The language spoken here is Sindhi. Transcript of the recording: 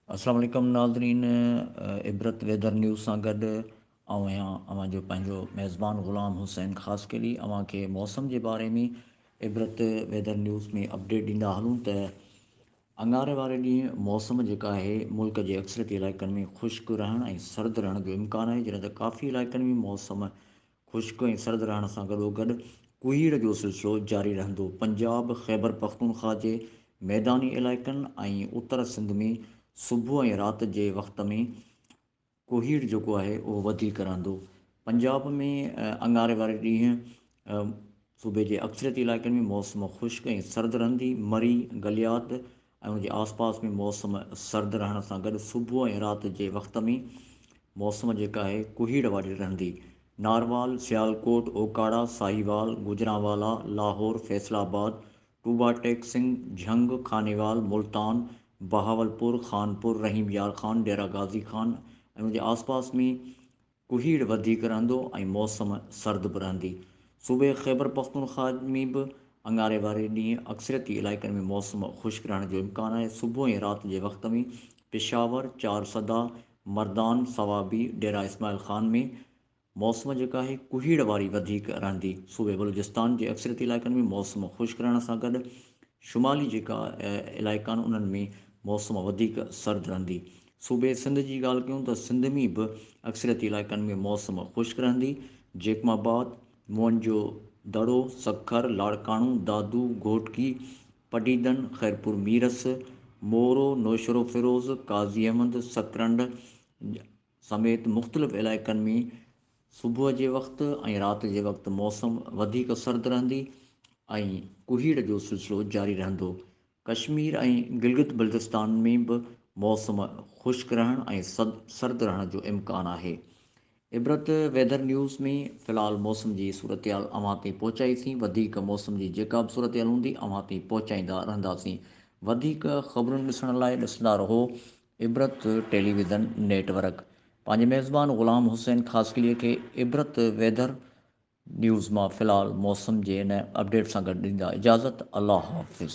السلام عليڪم ناظرين عبرت ويدر نيوز سان گڏ آئون آهيان اوهان جو پنهنجو ميزبان غلام حسين خاص ڪيلي اوهان کي موسم جي باري ۾ عبرت ويدر نيوز ۾ اپڊيٽ ڏيندا هلون ته اڱاري واري ڏينهن موسم جيڪا آهي ملڪ جي اڪثريتي علائقن ۾ خشڪ رهڻ ۽ سرد رهڻ جو امڪان آهي جڏهن ته ڪافي علائقن ۾ موسم خشڪ ۽ سرد رهڻ سان گڏوگڏ ڪوهيڙ جو سلسلو جاري رهندو پنجاب خيبر پختونخواه جي ميداني علائقن ۽ اتر سنڌ ۾ صبح ۽ رات جي وقت ۾ ڪوهيڙ جيڪو آهي اهو وڌيڪ رهندو. پنجاب ۾ اڱاري واري ڏينهن صوبي جي اڪثريت علائقن ۾ موسم خشڪ ۽ سرد رهندي. مري، گليات ۽ ان جي آسپاس ۾ موسم سرد رهڻ سان گڏ صبح ۽ رات جي وقت ۾ موسم جيڪا آهي ڪوهيڙ واري رهندي. ناروال، سيالڪوٽ، اوڪاڙا، ساهيوال، گوجرانوالا، لاهور، فيصل آباد، ٽوبا، ٽيڪ سنگهه، جهنگ، خانيوال، ملتان، بهاولپور، خانپور، رحيم يار خان، ڊيرا غازي خان ۽ ان جي آسپاس ۾ ڪهيڙ وڌيڪ رهندو ۽ موسم سرد به رهندي. صوبي خيبرپختونخوا ۾ به اڱاري واري ڏينهن اڪثريتي علائقن ۾ موسم خشڪ رهڻ جو امڪان آهي. صبح ۽ رات جي وقت ۾ پشاور، چارسده، مردان، صوابي، ڊيرا اسماعيل خان ۾ موسم جيڪا آهي ڪهيڙ واري وڌيڪ رهندي، صوبي بلوچستان جي اڪثريتي علائقن ۾ موسم خشڪ رهڻ سان گڏ شمالي جيڪا علائقا آهن انهن ۾ موسم وڌيڪ سرد رهندي، صوبي سنڌ جي ڳالهه ڪيون ته سنڌ ۾ به اڪثريتي علائقن ۾ موسم خشڪ رهندي، جيڪب آباد، موهن جو دڙو، سکر، لاڙڪاڻو، دادو، گهوٽڪي، پڊعيدن، خيرپور ميرس، مورو، نوشهروفيروز، قاضي احمد، سڪرنڊ، سميت مختلف علائقن ۾ صبح جي وقت ۽ رات جي وقت موسم وڌيڪ سرد رهندي ۽ ڪهيڙ جو سلسلو جاري رهندو. ڪشمير ۽ گلگت بلتستان ۾ به موسم خشڪ رهڻ ۽ سرد رهڻ جو امڪان آهي. عبرت ويڌر نيوز ۾ في الحال موسم جي صورتحال اوهان تائين پهچائي سين وڌيڪ موسم جي جيڪا به صورتحال هوندي اوهان تائين پهچائيندا رهنداسين وڌيڪ خبرون ڏسڻ لاء ڏسندا رهو Ibrat television network پنهنجي ميزبان غلام حسين خاصخيلي کي عبرت ويڌر نيوز مان في الحال موسم جي ان اپڊيٽ سان گڏ ڏيندا اجازت الله حافظ.